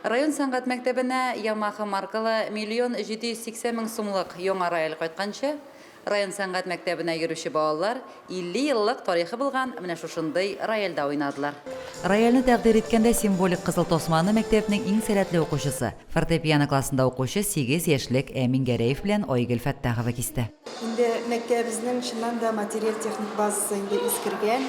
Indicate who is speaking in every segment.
Speaker 1: Район сәнгать мәктәбенә Ямаха маркалы миллион 780 мең сумлык яңа рояль кайтканчы, район сәнгать мәктәбенә йөрүче балалар 50 еллык тарихы булган менә шушындый рояльдә уйнадылар. Рояльне тәкъдир иткәндә символик кызыл тасманы мәктәпнең иң сәләтле укучысы, фортепиано классында укучы сигез яшьлек Әмин Гәрәев белән Айгөл Фәттахова кисте. Инде
Speaker 2: мәктәбебезнең чыннан да материаль-техник базасы инде искергән.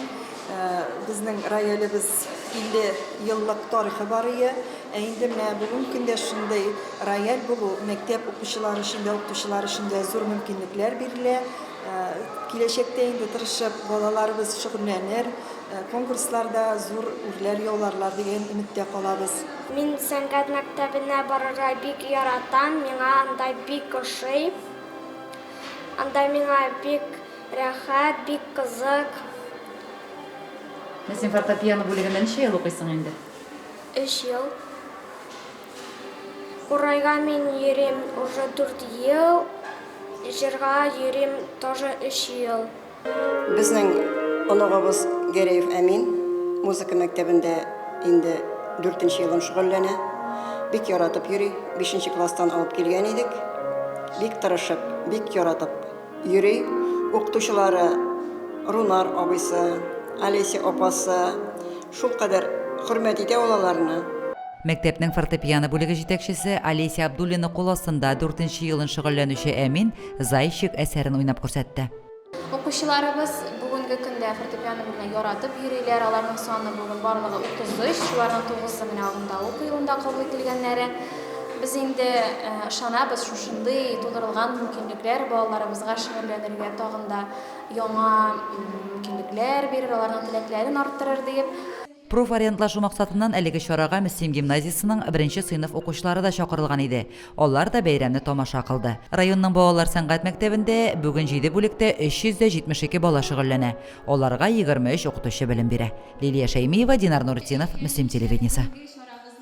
Speaker 2: Безнең роялебез 50 еллык тарихы бар ие. Ә инде менә бүгенге көндә шундый рояль булу мәктәп укучылары өчен дә, укытучылар өчен дә зур мөмкинлекләр бирелә. Киләчәктә инде тырышып балаларыбыз шөгыльләнер, конкурсларда зур үрләр яуларлар дигән өметтә калабыз. Мин сәнгать
Speaker 3: мәктәбенә барырга бик яратам, миңа анда бик ошый. Анда миңа бик рәхәт, бик кызык.
Speaker 1: Син фортепиано бүлегендә ничә ел укыйсың инде? Өч ел.
Speaker 3: Курайга мин йөрим уже дүрт ел, җырга йөрим тоже өч ел.
Speaker 4: Безнең оныгыбыз Гәрәев Әмин музыка мәктәбендә инде дүртенче елын шөгыльләнә. Бик яратып йөри. Бишенче класстан алып килгән идек. Бик тырышып, бик яратып йөри. Укытучылары Рунар абыйсы, Олеся апасы шулкадәр хөрмәт итә ул аларны. Мәктәпнең
Speaker 1: фортепиано бүлеге җитәкчесе Олеся Абдуллина кул астында дүртенче елын шөгыльләнүче Әмин Зайчик әсәрен уйнап күрсәтте. Укучыларыбыз
Speaker 5: бүгенге көндә фортепиано белән яратып йөриләр. Аларның саны бүген барлыгы 33, шуларның 9-ы менә алында укый, унда кабул ителгәннәре. Без инде ышанабыз, шушындый тудырылган мөмкинлекләр балаларыбызга шөгыльләнергә тагын да яңа мөмкинлекләр бирер, аларның теләкләрен арттырыр диеп. Профориентлашу
Speaker 1: максатыннан әлеге чарага Мөслим гимназиясенең беренче сыйныф укучылары да чакырылган иде. Алар да бәйрәмне тамаша кылды. Районның балалар сәнгать мәктәбендә бүген җиде бүлектә 372 бала шөгыльләнә. Аларга 23 укытучы белем бирә. Лилия Шәймиева, Динар Нуретдинов, Мөслим телевидениесе.